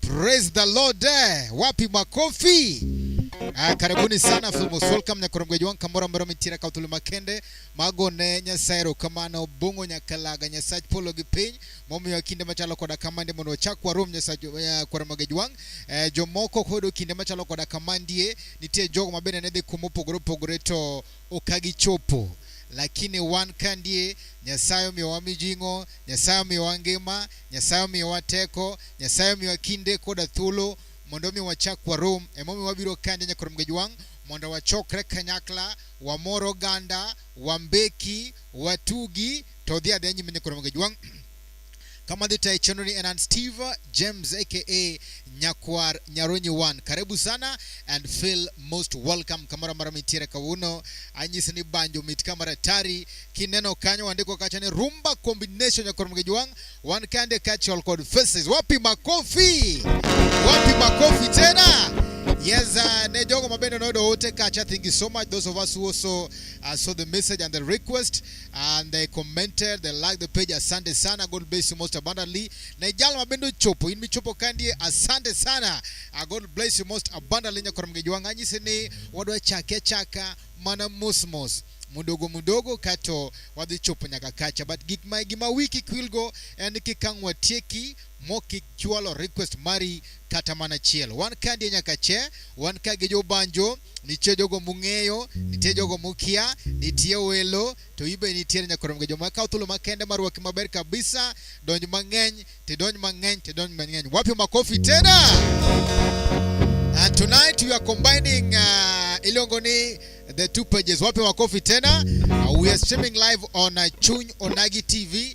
Praise the Lord. Eh, wapi makofi? Ah, karibuni sana Filmo Solcam nyakoromgweji wanka mora mora mitira kautulu makende magone nyasaero kamano bungo nyakalaga nyasach polo gi piny momiyo kinde machalo koda kamande mondo ochak kwa rom nyasach uh, eh, kwa romageji wang eh, jomoko kodo kinde machalo koda kamandie nitie jogo mabende ne dhi kuma opogore opogore to okagichopo lakini wan ka ndie nyasaye omiyowa mijing'o nyasaye omiyowa ngima nyasaye omiyowa teko nyasaye omiyowa kinde koda thuolo mondo omi wachak warom emomiyo wabiro kande nyaka rom gejwang' mondo wachokre kanyakla wamor oganda wambeki watugi to dhi adhi nyime nyaka rom gejwang' kama dhita ya chenoni enan steve james aka nyakwar nyaronyi one karibu sana and feel most welcome kamoro amora mitiere kawuono anyisi ni banjo mit kamara tari kineno kanyo wandiko kacha ni rumba combination nyakor mgejuang wan kande kachol kod faces wapi makofi wapi makofi tena Yes, uh, ne jogo mabende noyudo ote kacha. Thank you so much those of us who also uh, saw the message and the request. and they commented they like the page asante sana god bless you most abundantly na ijalo mabendo chopo in michopo kandie asante sana uh, god bless you most abundantly nyakora mgeji wanga nyise ni wadwa chake chaka mana mosmos mudogo mudogo kato wadhi chopo nyaka kacha but gik ma gima wiki kwilgo en kikangwa tieki mokik chwalo request mari kata mana achiel. Wan ka ndiye nyaka che, wan ka gi jobanjo, nitie jogo mung'eyo, nitie jogo mukia, nitie welo, to ibe nitiere nyaka romge joma kawo thuolo makende marwaki maber kabisa, donj mang'eny, to donj mang'eny, to donj mang'eny. Wapi makofi tena? And tonight we are combining uh, iluongo ni the two pages. Wapi makofi tena? Uh, we are streaming live on uh, Chuny Onagi TV.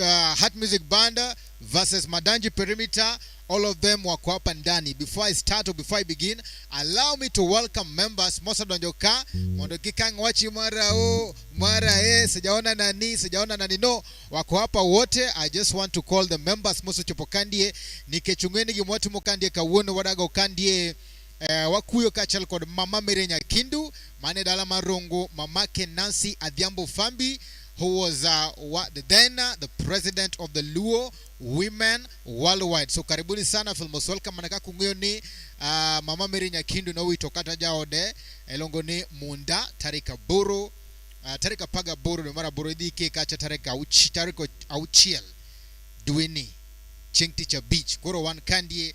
uh, Heart Music Band versus Madanji Perimeter. All of them were up and Dani. Before I start or before I begin, allow me to welcome members Mosa Donjoka, Mondoki Kang Wachi Marao, Mara E, Sijaona Nani, Sijaona Nani. No, wako hapa wote. I just want to call the members Mosa Chopokandie, Nikechungeni Gimwatu Mokandie, Kawuno Wadago Kandie, Eh, wakuyo kaachiel kod mama Mary Nyakindu mane dala mar Rongo, mamake Nancy Adhiambo Fambi who was uh, wa, then uh, the president of the Luo women worldwide. So karibuni sana Filmos welcome manaka kung'eyo ni uh, mama Mary Nyakindu nowito kata jaode elongo ni Munda tarik aboro uh, tarik apar gaboro dwe mar aboro idhi ike kacha tarik auchiel dweni chieng' tich abich koro wan kandie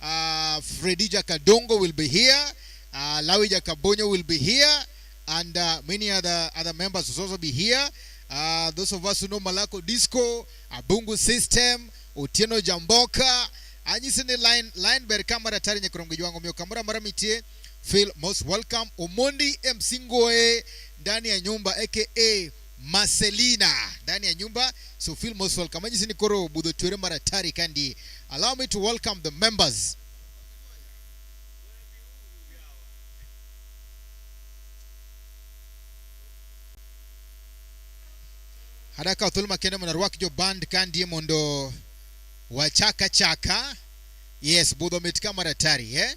Uh, Fredija Kadongo will be here. Uh, Lawija Kabonyo will be here. And uh, many other, other members will also be here. Uh, those of us who know Malako Disco, Abungu System, Otieno Jamboka, anyisi ni line line ber ka mar atari nyakrom gi jwango miyo kamoro amora mitie feel most welcome omondi msingoe ndani ya nyumba aka Marcelina ndani ya nyumba. So feel most welcome. Majisi ni koro budho chwere mara tari kandi. Allow me to welcome the members. Haraka uthuluma kende mwana rwak jo band kandi mondo wachaka chaka. Yes, budho metika mara tari, eh?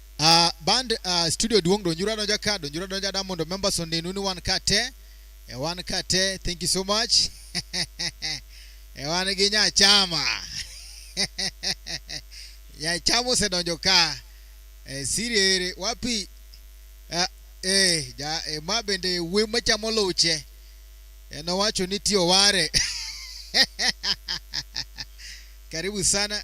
Uh, band uh, studio duong donjura donja ka donjura donja da mondo members onenu ni wan ka te e wan ka te thank you so much e wan gi nyachama nyachama osedonjo ka e, siriere wapi uh, e, ja, e, ma bende we machamo luche e, nowacho ni tiyo ware karibu sana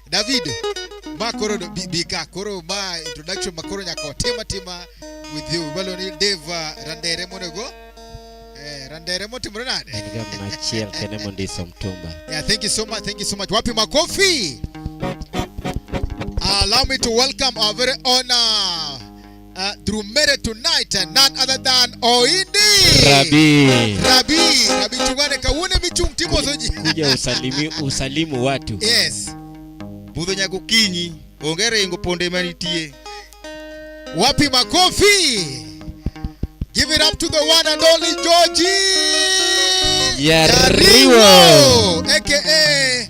David ma koro bi, bi ka koro ma introduction ma koro nyaka watima tima with you balo ni Dave uh, Randere monego eh, Randere motimore nade En ga mna achiel kene mondiso mtumba. Yeah, thank you so much. Thank you so much. Wapi makofi. Allow me to welcome our very honor uh, through Mary tonight, and none other than Oindi Rabi. Rabi Rabi Chungane Kawune Michung Timo Soji. Kuja usalimi, usalimu watu. Yes. Budho nyako kinyi, ongere ingo ponde manitie. Wapi makofi? Give it up to the one and only Georgie. Yariwo. Yariwo. AKA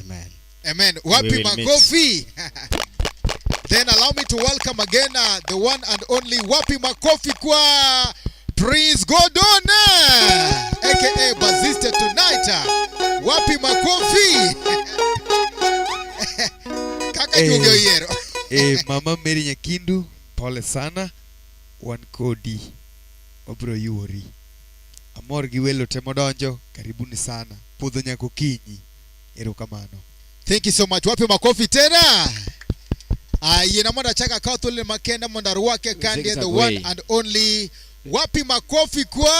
Amen. Amen. We Wapi will meet. makofi? Then allow me to welcome again uh, the one and only Wapi Makofi kwa Prince Gordon eh, aka Bazista tonight. eh. Wapi Makofi? Kaka Eh. Jugio Yero. Eh, mama Mary Nyakindu, pole sana. Wan kodi. Obro yuori. Amor gi welo te modonjo, karibuni sana. Puodho nyaka okinyi. Erokamano. Thank you so much. Wape makofi tena. Ah, yena mondo achak akaw thuolone makenda mondo arwake kandie the one and only wapi makofi kwa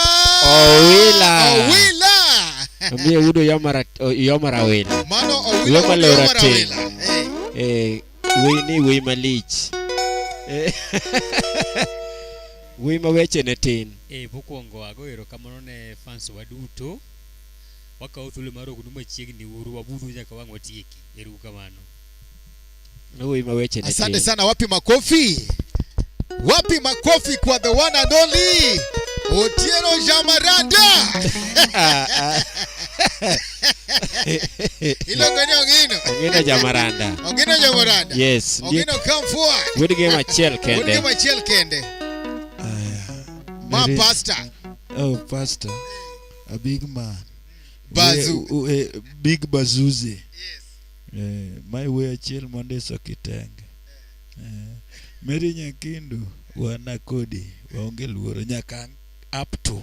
Owila. Owila. Omiye wudo yomara yomara wila. Mano Owila Yoma wudo lora yomara te. wila. Eh. Eh, wei ni wei malich. Eh. Wuoyi ma weche ne tin. E, mokwongo ago erokamano ne fans wa duto. Wakawo thuolo mar ognu machiegni uru wabudhu nyaka wang' watieki. Eru kamano. Wuoyi ma weche ne tin. Asante sana, wapi makofi? Wapi makofi kwa the one and only Otieno Jamaranda? Iluongo ni Ongino. Ongino Jamaranda. Ongino Jamaranda. Yes. Ndiye Ongino come forward. good game achiel Wuod kende. Ngima achiel kende. Ma Very- pastor. Oh, pastor. A big man. Bazu. We- we- big Bazuzi. Eh, my way achiel monde so kitenge. Eh, Mary Nyakindu wana kodi waonge luoro nyaka up to.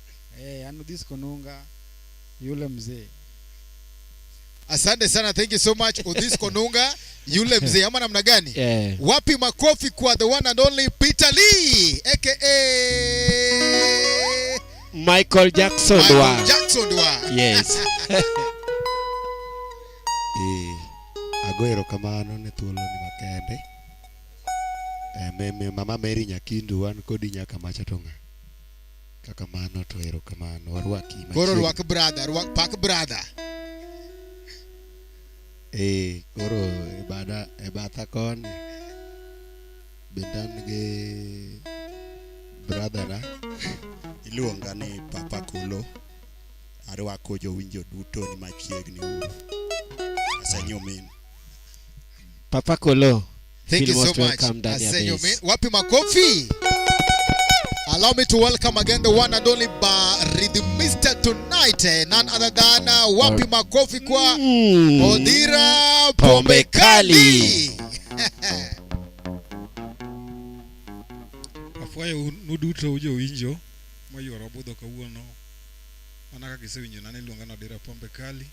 eh, anu this konunga yule mzee asante sana thank you so much odhis konunga yule mzee ama namna gani yeah. wapi makofi kwa the one and only peter lee aka michael jackson Michael wa jackson wa yes Eh, ago erokamano ne thuoloni makende Eh, me- me- mama mary nyakindu wan kodi nyaka macha to ng'a Kaka mano to erokamano. Warwaki machiegni. Koro rwak brother, rwak pak brother. Eh, koro e bada e batha koni bende an gi brother na iluonga ni Papa Kulo. Arwako jowinjo duto ni machiegni uru. Asenyumin. Papa Kolo, Thank you feel so most much. welcome ndani ya Asante base. men. Wapi makofi? Allow me to welcome again the one and only Baridi Mister tonight. eh, None other than uh, Wapi makofi kwa Mm. Odira Pombe Pombe Kali. afwayo nuduto ujowinjo mayuoro budho kawuono mana kaka isewinjo nane iluonga ni odira pombe kali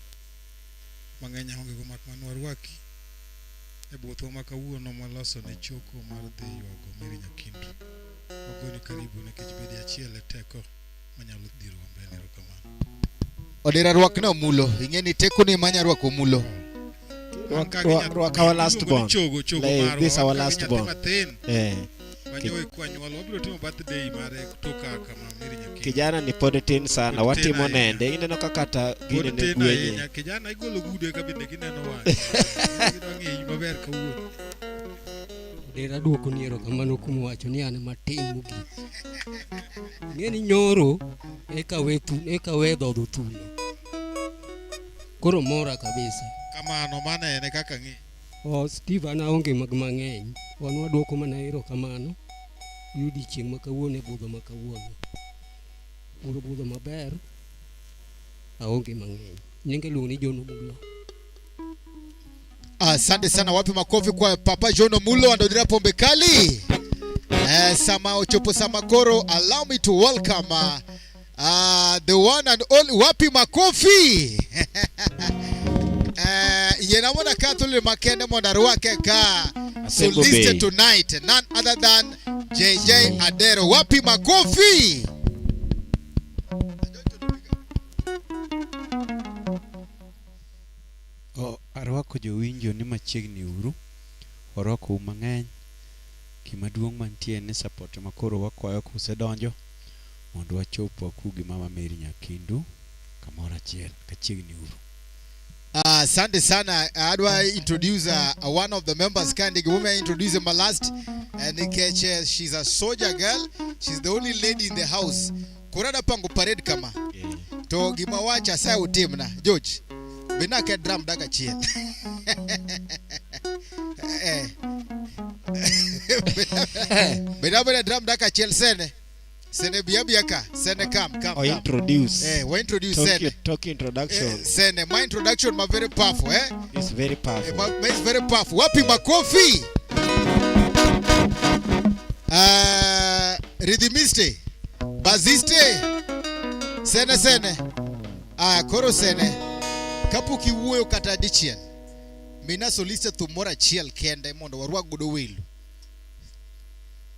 mang'eny aongego mak mana warwaki e buothwa ma kawuono mwaloso ne choko mar dhi ywago Mary Nyakindu. Wagoni karibu nikech bedi achiel e teko manyalo dhiro wa mbele. Erokamano. Odera rwak ne omulo, ing'e ni teko ni manya rwak omulo. Rwak- rwak- rwak our last born. Chogo, chogo Like, marwa. this our Wan ka gi last nyathi born. matin. Eh. Wanyowe kwa nyuol wabiro timo birthday mare kutoka kama Mary Nyakech. kijana ni pod tin sana Pod tin watimo ahinya. nende ineno ka kata gine Pod ne tin gwenye ahinya. Kijana igolo gude ka bende gineno wang'e. Gidwa ng'eyi maber kawuono. Dera duoko ni erokamano kuom wacho ni an matin mogik. Ng'e ni nyoro eka we thu, eka we dhodho thuno. Koro mora kabisa. Kamano mano en e kaka ng'i. Oh, Steve an aonge mag mang'eny. Wan waduoko mana erokamano gi odiechieng' ma kawuono e budho ma kawuono. Puro budho maber, aonge mang'eny. Nyinga iluongo ni John Omulo. Asante sana, wapi makofi kwa Papa John Omulo andodira pombe kali. Eh, sama ochopo sama koro, allow me to welcome uh, Ah, the one and only wapi makofi Eh, ye namona ka tulile makende mona ruwake ka Asego soliste be. tonight none other than JJ Adero wapi makofi O- arwako jowinjo ni machiegni uru warwakou mang'eny gima duong' mantie ni support ma koro wakwayo kusedonjo mondo wachop waku gi mama Mary Nyakindu kamoro achiel kachiegni uru. Ah, Asante uh, sana. Ah, how do I introduce uh, one of the members? Can you woman introduce my last? And uh, she's a soldier girl. She's the only lady in the house. Kurada pangu parade kama. To gima wacha sa utimna. George. Benake drum daga chien. Eh. Beda beda drum daka chel sene. Sene biya biya ka. Sene kam kam Or kam. introduce. Eh, we introduce talk, sene. talk introduction. Eh, sene. My introduction ma very powerful, eh? It's very Eh, powerful. ma, ma is very powerful. Wapi makofi? Uh, rhythmiste. Baziste. Sene sene. Ah, koro sene. Kapuki wuoyo kata dichiel. Mina soliste thum moro achiel kende mondo warwak godo welo.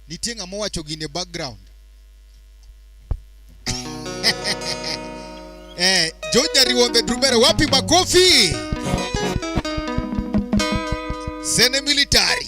Nitie ng'ama owacho gine background. eh, George Nyariwombe Drumera wapi makofi? Sene military.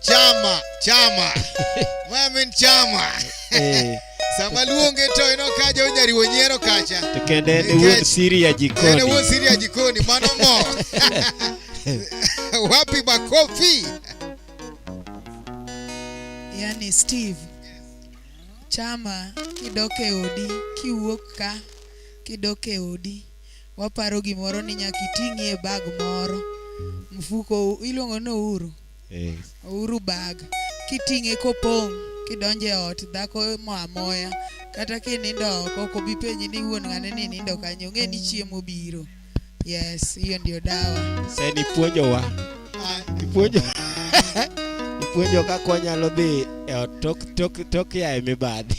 chama chama mamin chama Eh, sama luonge to ino kaja onyariwo nyiero kacha to kendo en Nikech- wuod siri ya ene wuon jikoni siri ya jikoni mano mo wapi makofi yani steve chama kidok e odi kiwuok ka kidok e odi waparo gimoro ni nyaka iting'ie bag moro mfuko iluongo ni ouru Eh. Ouru bag kiting'e kopong' kidonjo e ot dhako mo amoya kata kinindo oko ok obi penji ni wuon ng'ane ni nindo kanyo ong'e ni chiemo biro. Yes, hiyo ndio dawa. Sasa nipuonjowa. Ah, nipuonjo. nipuonjo kaka wanyalo dhi e ot tok tok tok ya e mibadhi.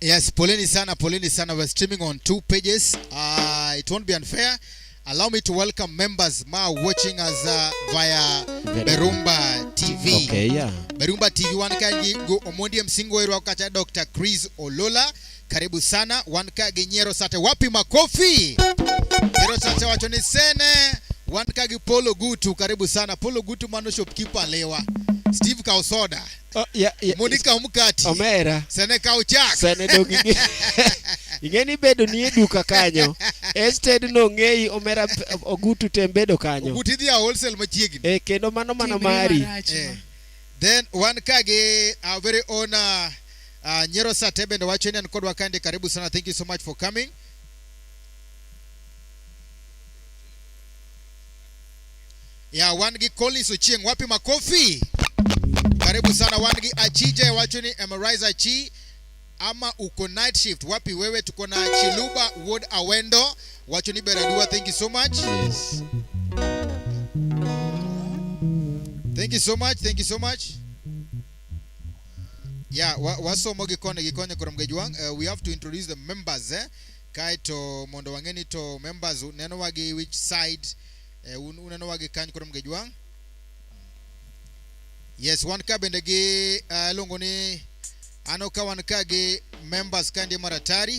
Yes, poleni sana, poleni sana. We're streaming on two pages. Uh, it won't be unfair. Allow me to welcome members now watching us uh, via Berumba TV. Okay, yeah. Berumba TV one kanji go Omondi Msingo Erwa kacha Dr. Chris Olola. Karibu sana. One ka genyero sate wapi makofi. Nyero sate wacho ni sene. One ka gi Polo Gutu. Karibu sana. Polo Gutu mano shopkeeper lewa. Steve Kausoda. Oh, yeah, yeah. Mondo ikaw mkati. Omera. Sana ikaw chak. Sana dog ing'e. ing'e ni bedo ni e duka kanyo. Instead no ng'eyi omera ogutu tem bedo kanyo. Ogutu idhi a wholesale machiegni. Eh, kendo mano mano mari. Eh. Then wan ka gi our very own uh, uh, Nyero Sate bende wacho ni an kodwa kande karibu sana. Thank you so much for coming. ya wangi Collins Ochieng, wapi makofi? Karibu sana wangi Achije, wacho ni Emerize Achi ama uko night shift wapi wewe? Tuko na Chiluba Ward Awendo, wacho ni Beradua, thank you so much. Yes. Thank you so much, thank you so much. Yeah, wasomo gikone gikone koro mgejwang. Uh, we have to introduce the members eh? Kae to mondo wang'e ni to members neno wagi which side eh, un uneno wa gi kany koro mge jwang yes wan ka bende gi uh, iluongo ni ano ka wan ka gi members ka ndi maratari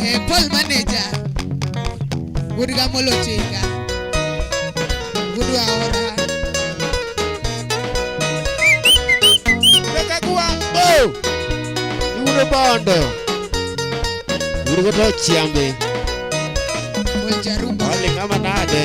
Eh, Paul manager wuod gamolo tinga wuod waora Reka gwang' bo. Yudo bondo. Yudo to chiambe. Paul jarumba Wale kama nade.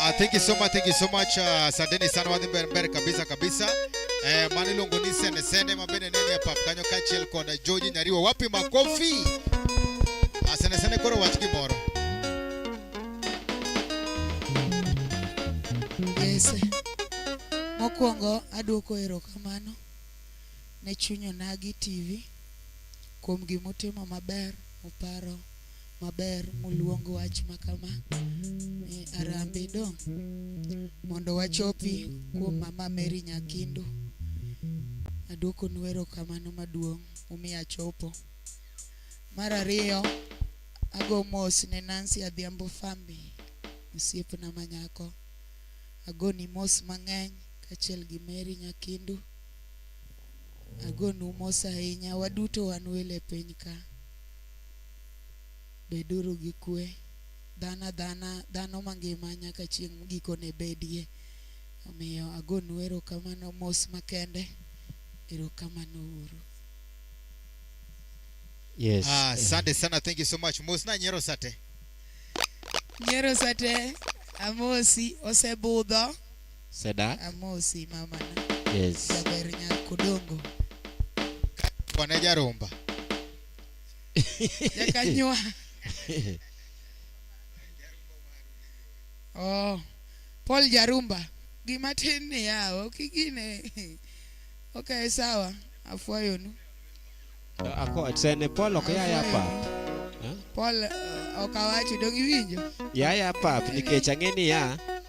Uh, thank you so much, thank you so much. Ah, asanteni uh, sana wadhi mbele mbele kabisa kabisa. Eh, mani lungu ni sene sene mabene nene ya papkanyo kachel kona George Nyariwa wapi makofi? Asante ah, sana koro wachiki moro. Yes. Mokwongo aduoko erokamano ne Chunyonagi TV kuom gimotimo maber muparo maber moluong wach makama ni Arambi Dong mondo wachopi kuom Mama Mary Nyakindu. Aduoko nu erokamano maduong' umiya chopo. Mar ariyo, ago mos ne Nancy Adhiambo Fambi, osiepna manyako. Agoni mos mang'eny kaachiel gi Mary Nyakindu. Agonu mos ahinya, waduto wan welo e piny ka. Beduru gi kwe. Dhana dhana dhano mangima nyaka chieng' gikone bedie. Omiyo agonu erokamano mos makende. Erokamano uru. Yes. Ah, asante sana, thank you so much. Mos na nyiero sate. Nyiero sate amosi osebudho. Seda. Amosi mama. Yes. Jaber nyako dongo. Bwana Jaromba. Jakanywa. Oh, Paul Jarumba. Gima tin ni yao, ok igine. Okay, sawa. Afwayonu. Ako sene Paul ok ya ya pap. Paul eh, ok awacho dong iwinjo. Ya ya pap nikech ang'e ni ya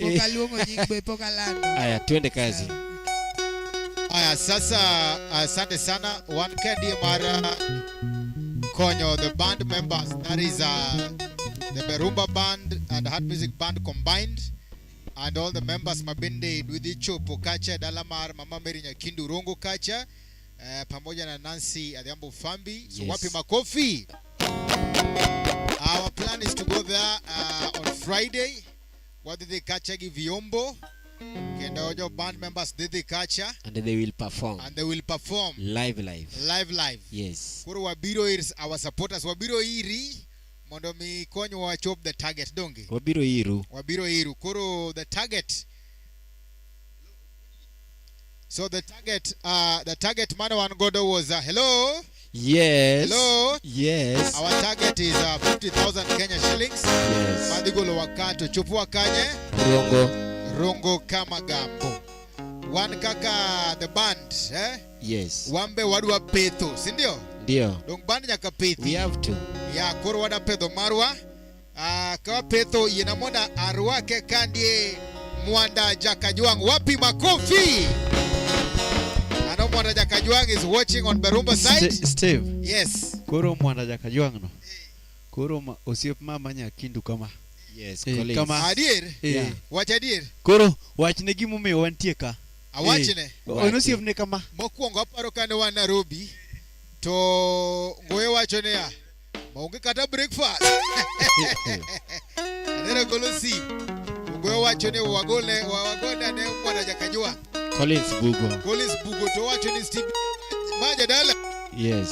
Pok aluongo nying be pok alando. Aya, twende kazi. Aya, sasa asante sana wan kadi mar uh, konyo the band members that is uh, the Berumba band and Heart Music band combined and all the members mabende Dwidhi Chopo kacha dala mar Mama Mary Nyakindu Rongo kacha eh, pamoja na Nancy Adhiambo Fambi so Yes. wapi makofi Our plan is to go there uh, on Friday wadhi dhi kacha gi viombo kendo jo band members dhi dhi kacha and they will perform and they will perform live live live live yes koro wabiro ir our supporters wabiro iri mondo mi konywa wachop the target donge wabiro iru wabiro iru koro the target So the target, uh, the target man one godo was uh, hello. Yes. Hello. Yes. Our target is uh, 50,000 Kenya shillings. Yes. Madigolo wakato chupua kanye. Rongo. Rongo kama gambo. One kaka the band, eh? Yes. Wambe wadwa petho, si ndio? Ndio. Dong band nyaka pethi. We have to. Ya koro wadwa pedho marwa. Ah, ka petho yena mona arwake kandie mwanda jakajwang wapi makofi ano mwanda jakajwang is watching on berumba side Ste- Steve, yes koro mwanda jakajwang no koro ma- osiep mama nyakindu kama Yes, Eh, Collins. kama- adier Eh, Yeah. wach adier koro wachne gimomiyo wantie ka awachne Eh, Wache. onosiepne kama mokwongo aparo kane wan nairobi to ngoye wacho niya ma onge kata breakfast aneno golo sim ogoyo wacho ni wagole wa- wagole ne kwana jakajua Collins Bugo. Collins Bugo to wacho ni Steve ma jadala Yes.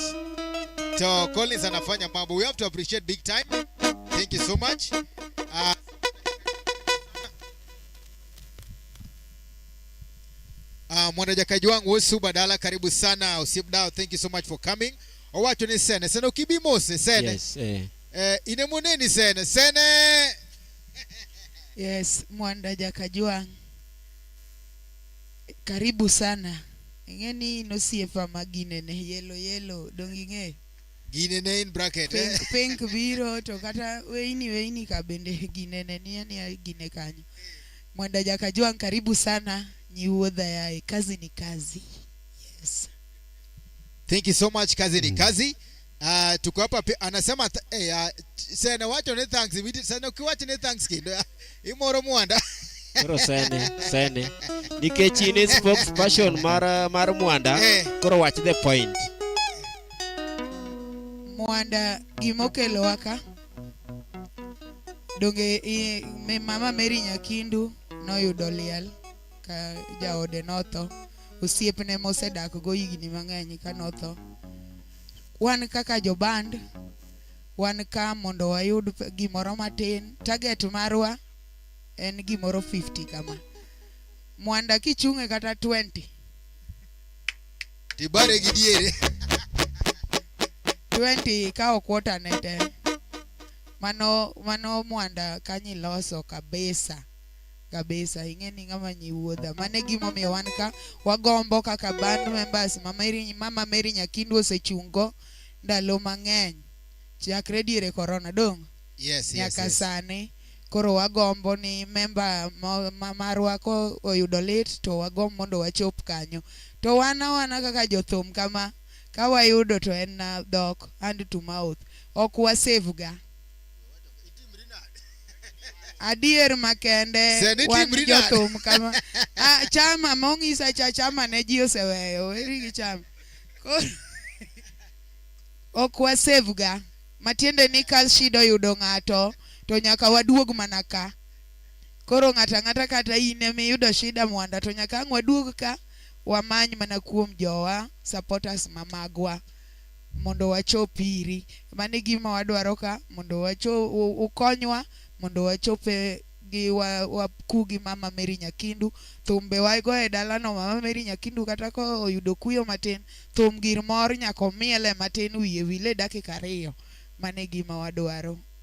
to Collins anafanya mambo we have to appreciate big time thank you so much uh, Uh, mwanajakaji wangu Wesu Badala, karibu sana Usip Dao, thank you so much for coming. owacho ni sene sene ok ibi mose sene yes, eh. Eh, ine moneni sene sene yes mwanda jakajwang karibu sana ing'e ni nosiepa ma ginene yelo yelo dong ing'e ginene in bracket pink, eh? pink biro to kata weini weini ka bende ginene niye niya gine kanyo mwanda jakajwang karibu sana nyiwuodha yaye kazi ni kazi yes Thank you so much kazi ni mm. kazi. Uh, tuko hapa anasema eh, uh, sene wacho ne thanks ibidi sene ukiwacho ne thanks kindo imoro mwanda koro sene sene nikech in is spokesperson mar mar mwanda eh. koro watch the point mwanda gimokelo waka donge i, me, mama Mary Nyakindu noyudo liel ka jaode notho osiepne mosedak go higni mang'eny ka notho wan kaka joband wan ka mondo wayud gimoro matin target marwa en gimoro 50 kama mwanda kichung'e kata 20 tibare gi diere 20 ka ok wotane te mano mano mwanda kanyi loso kabisa kabisa ing'e ni ng'ama nyi wuodha mane gimomiyo wan ka wagombo kaka band members mama Mary, mama Mary Nyakindu osechungo ndalo mang'eny chakre diere corona dong yes, nyaka yes, yes. sani koro wagombo ni memba mo- ma- marwa ko oyudo lit to wagomb mondo wachop kanyo to wan awana kaka jothum kama ka wayudo to en na dhok hand to mouth ok wasave ga adier makende Sani wan timri nade? jothum kama ah, chama mong'isa cha chama ne ji oseweyo weri gi chama koro ok wasevga matiende ni ka shida oyudo ng'ato to nyaka waduog mana ka koro ng'ato ang'ata kata in ema iyudo shida mwanda to nyaka ang' waduog ka wamany mana kuom jowa supporters ma magwa mondo wachop iri. Mano e gima wadwaro ka mondo wachop, ukonywa mondo wachop e gi wa, wa kugi mama Mary Nyakindu thumbe wago e dalano mama Mary Nyakindu kata ko oyudo kuyo matin thum gir mor nyako miele matin wiye wile dakika ariyo mane gima wadwaro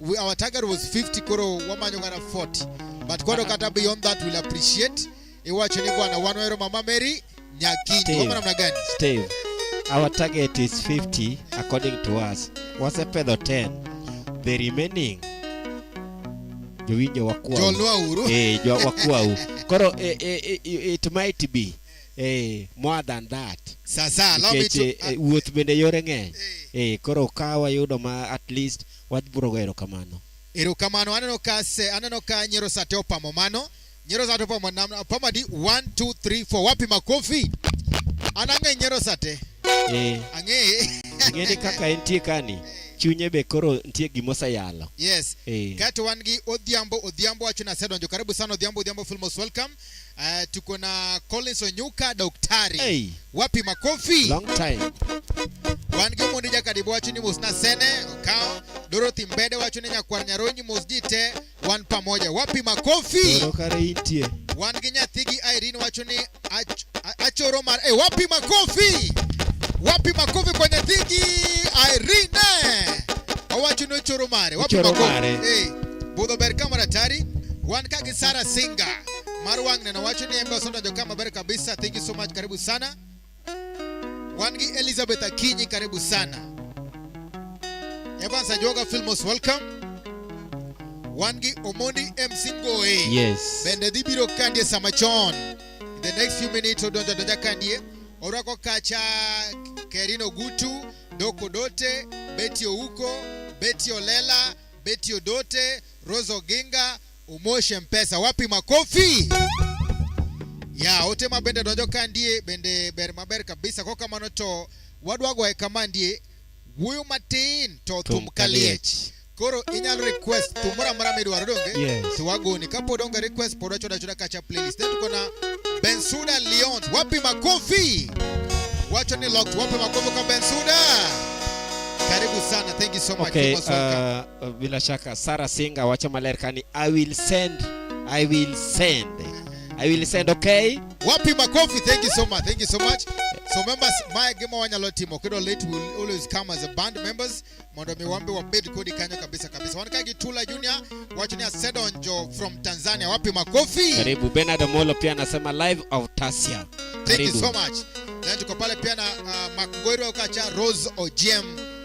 We, our target was 50 koro wamanyo kata 40 but koro kata beyond that will appreciate iwacho ni bwana wan wahero mama mary nyakinyi Steve. wama namna gani Steve, our target is 50 according to us. Wasepedho 10. The remaining jowinjo wakuwa. jolwa uru Eh, jo wakuwa. u. Koro eh, eh, eh, it might be eh, more than that. sasa allow me Nikech to eh, eh, wuoth bende yore ng'eny. Eh, koro ka wayudo ma at least Wach buro go erokamano. Erokamano aneno ka se aneno ka nyero sate opamo mano. Nyero sate opamo nam opamo di 1 2 3 4 wapi makofi? Anang'e nyero sate. Eh. Ang'e. Ng'eni kaka entie kani. chunye be koro nitie gima oseyalo yes hey. Eh. kato wan gi odhiambo odhiambo wacho ni asedonjo karibu sana odhiambo odhiambo filmos welcome Uh, tuko na Collins Onyuka daktari. Hey. Wapi makofi? Long time. Wan gi mundi jakadibo wacho ni mos nasene okawo Dorothy Mbede wacho ni nyakwar Nyaronyi mos ji te wan pamoja. Wapi makofi? Toro kare intie. Wan gi nyathi gi Irene wacho ni ach, a- achoro mar eh, wapi makofi? Wapi makofi kwa nyathi gi Irene? Owacho ni ochoro mare. Wapi Ochoro makofi? mare. Eh, budho ber kamera tari. Wan ka gi Sara Singa Marwang neno wacho ni embe osedonjo ka maber kabisa. Thank you so much, karibu sana. Wan gi Elizabeth Akinyi, karibu sana. Evans Ajoga Filmos, welcome. Wan gi Omondi MC Ngoe. Yes. Bende dhi biro kandie sama chon. In the next few minutes odonjo donja kandie. Orwako kacha Kerino Gutu, Doko Dote, Betty Ouko, Betty Olela, Betty Odote, Rose Oginga, Umoshe Mpesa, wapi makofi? Ya, ote ma bende donjo ka ndie bende ber maber kabisa ko kamano to wadwa goye kama ndie wuoyo matin to thum kaliech. Koro inyalo request thum moro amora midwaro donge? Yes. To wagoni kapod onge request pod wachoda achoda kacha playlist. Then tuko na Bensuda Leon, wapi makofi? Wacho ni locked, wapi makofi kwa Bensuda? Karibu sana, thank you so much. Okay, You're most welcome. uh, Uh, bila shaka Sarah Singa wacho maler kani I will send I will send I will send okay Wapi makofi? Thank you so much. Thank you so much. So members, my game wanyalo timo kido late will always come as a band members. Mondo mi wambe wabed kodi kanyo kabisa kabisa. Wanaka Gitula Junior, wacho ni Sedonjo from Tanzania. Wapi makofi? karibu Bernard Omolo pia anasema live of Tasia Thank you so much. Then tuko pale pia na uh, Makgori Okacha Rose Ojem